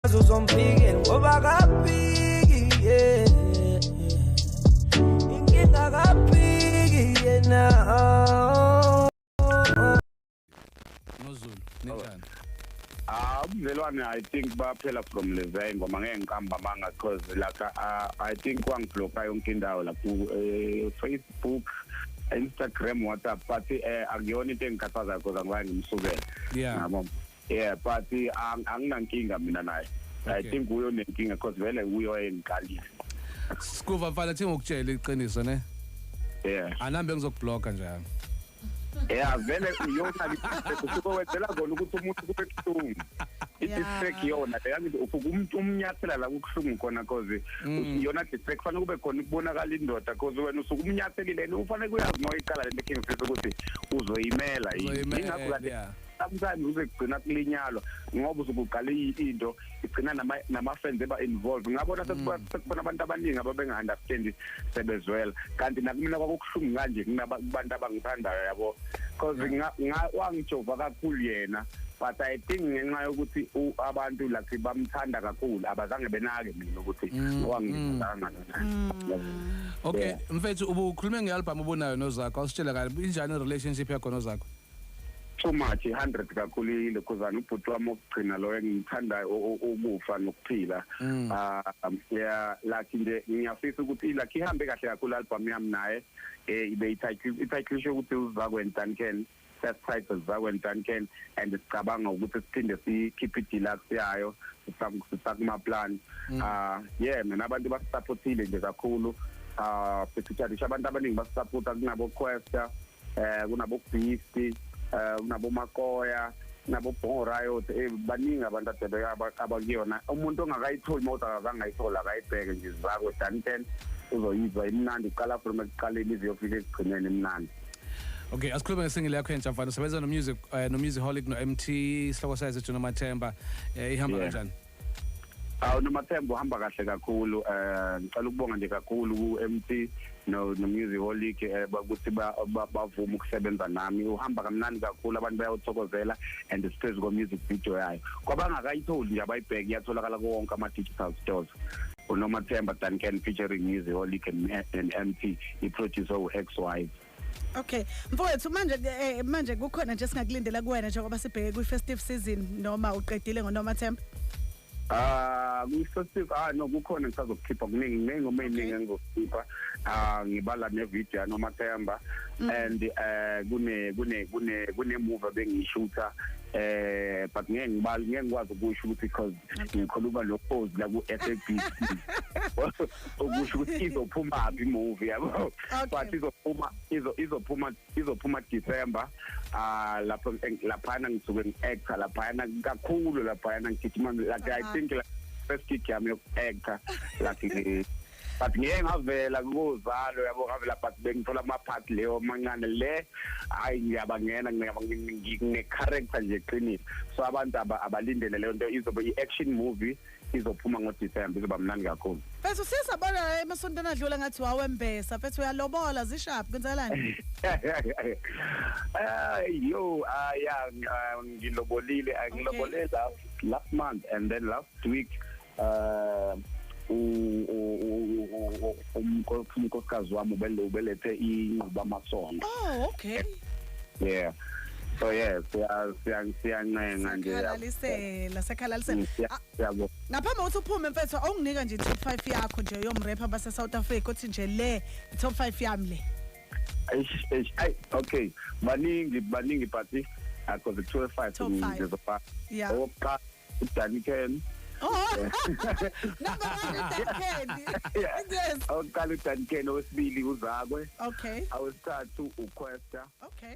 uzompikela ngoba kaphiki yeah. inkinga kaphiki yena nozulu ninjani Ah, umvelwane I think baphela from Levay ngoba ngeke ngiqamba amanga because like uh, I think kwangibloka yonke indawo la ku uh, Facebook Instagram WhatsApp but eh akuyona into engikhathazayo because angiwaye ngimsukele. Yeah. Yabo. yeah but eh, anginankinga mina naye i think uyo nenkinga because vele uyo wayengiqalile sikuva mfana thi ngokutshela iqiniso ne yeah anambe ngizokubloka njalo yeah vele uyona usuke wenzela kona ukuthi umuntu kube kuhlungu i-distract yona leyangithi ufuke umuntu umnyathela la kukuhlungu khona cause mm. yona distract kufanele kube khona kubonakala indoda cause wena usuke umnyathelile and ufanele kuyazi uma uyiqala le nto ekhengifisa ukuthi uzoyimela yini ingakho kade sometimes uze kugcina kulinyalwa ngoba usukuqala into igcina nama nama friends eba involved ngabona sekuba mm. sekubona abantu abaningi ababenga understand sebezwela kanti nakumina kwakuhlungu kanje kunabantu abangithandayo yabo because nga wangijova kakhulu yena but i think ngenxa yokuthi abantu lakhe bamthanda kakhulu abazange benake mina ukuthi mm, wangithanda mm. mm. okay mfethu ubukhulume ngealbum obunayo nozakho awusitshela kahle injani relationship yakho nozakho too much 100 kakhulu ilokhuzana ubhuti wami okugcina lo engimthandayo ukufa nokuphila mm. ah yeah like nje ngiyafisa ukuthi like ihambe kahle kakhulu album yami naye eh ibe ithayithi ithayithi ukuthi uzakwenza Duncan first titles zakwenza Duncan and sicabanga ukuthi siphinde sikhiphe deluxe yayo sisakuma plan mm. ah yeah mina abantu basupportile nje kakhulu ah uh, sithutha abantu abaningi basupporta kunabo Questa eh kunabobeast eh kunabomakoya nabobhongo riot eh baningi abantu adebeka abakuyona umuntu ongakayitholi mawuthi akazangayithola akayibheke nje izakwe dan ten uzoyizwa imnandi iqala from ekuqaleni ize yofika ekugcineni imnandi Okay, asikhulume ngesingile yakho entsha mfana. Usebenza no music uh, no music holic no MT, sihloko sayo Jona Mathemba. Eh ihamba kanjani? Yeah. Awu noMathembu uhamba kahle kakhulu eh ngicela ukubonga nje kakhulu ku-MT no nomusic holic eh, ukuthi bavuma ukusebenza nami uhamba kamnandi kakhulu abantu bayawuthokozela and siphezu komusic video yayo kwabangakayitholi nje abayibheke iyatholakala kuwonke ama-digital stores unomathemba duncan featuring music holic and, and mt iproducer u-x wife Okay. Mfowethu manje eh, manje kukhona nje singakulindela kuwena njengoba sibheke kwi festive season noma uqedile ngonoma Themba? Ah, uh, ngisasif ah no kukhona ngisazokhipha kuningi kuningi uma iningi engizokhipha ah ngibala ne video noma Themba mm. and eh kune kune kune kune movie bengishutha eh but ngeke ngibali ngeke ngikwazi ukusho ukuthi because ngikhuluma lokhozi la ku FABC okusho ukuthi izophuma phi movie yabo but izophuma izo izophuma izophuma December ah lapho lapha ngisuke ngiactor lapha kakhulu lapha ngigijima like i think like first gig yami yokuactor like but ngeke ngavela kuzalo yabo ngavela but bengithola ama part leyo mancane le hayi ngiyabangena ngine character nje qinile so abantu abalindele leyo nto izobe i action movie izophuma ngoDecember izoba mnandi kakhulu mfethu sisabona emasontweni adlula ngathi wawembesa mfethu uyalobola zishaphi kwenzakalani ay yo aya ah, ngilobolile ah, ngilobolile last month and then last week uh umkosikazi wami ubelethe inqubamasondo oh okay yeah so yeah siyancenga nje sakhalalisela sakhalalisela mm, ah, siyabo ngaphambi kokuthi uphume mfethu awunginika nje top 5 yakho nje yomrapper base South Africa uthi nje le top 5 yami le ay okay baningi baningi party akho the 25 ngizofa owokuqala Danny Ken Oh. Number one is Dan Candy. Yeah. Yes. Awuqala uDan Ken owesibili uZakwe. Okay. Awesithathu uQuesta. Okay.